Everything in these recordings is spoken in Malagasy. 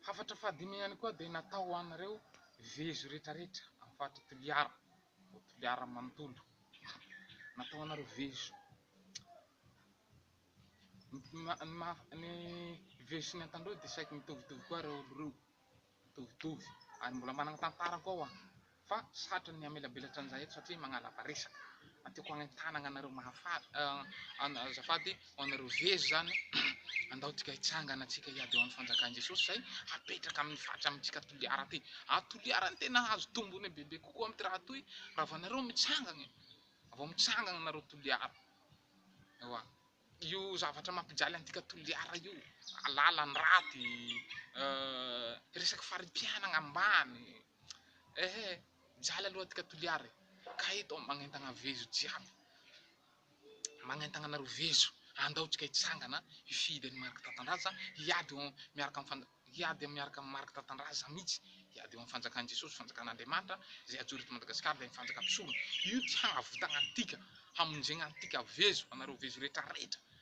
Hafatra fahadimy ihany koa dia natao ho an'ireo vezo rehetrarehetra amin'ny faritra Toliara, ao Toliara manontolo. Natao ho anareo vezo. Ny vezo sy ny antandroy dia saiky mitovitovy koa ireo olo ireo, mitovitovy, ary mbola manana tantara koa hoa. Fa satry ny hamelabelatra an'izahay eto satria magnalava resaka. Tiako hagnentanagna anareo mahafaly an azafady ho anareo vezo izany andao tsika hitsangana antsika hiady ho an'ny fanjakan'i Jesosy izay hapetraka amin'ny faritra amintsika Toliara aty. A Toliara no tena hahazo tombony bebe kokoa amin'ity raha toy raha vao nareo mitsangana e. Vao mitsangana nareo Toliara. Ewa. Io zavatra mampijaly antika Toliara io lalan-draty, resaky fari-piainagna ambany, Eh eh mijaly aloha aty ka Toliara e! ka eto aho magnentagna vezo jiaby, magnentagna anareo vezo andao tsika hitsangana hifidy an'i Marc Tatandraza hiady eo miaraka amin'ny fanj- hiady eo miaraka amin'i Marc Tatandraza mitsy hiady eo amin'ny fanjakan'i Jesosy fanjakan'Andriamanitra zay hajoro eto Madagasikara ilay fanjaka mpisorona io ty hahavitagna antika hamonjegna antika vezo anareo vezo retraretra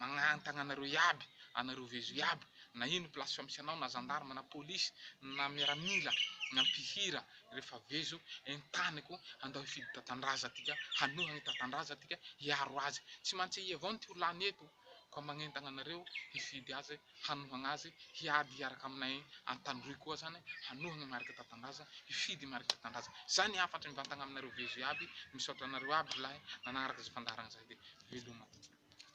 Magnantagna anareo iaby, anareo vezo iaby, na ino place fa misy anao, na gendarme, na police, na miaramila, na mpihira, refa vezo, entaniko, andao hifidy tatandraza tika, hanohagna i tatandraza tika, hiaro azy, tsy mantsy i avao no teo lany eto, koa magnentagna anareo hifidy azy, hanohagna azy, hiady hiaraka aminay antandroy koa zany, hanohagna marika tatandraza, hifidy marika tatandraza, zay ny hafatry mivantagna aminareo vezo iaby, misaotra anareo aby rolahy nanagnaraka zay fandaharagna zay de veloma.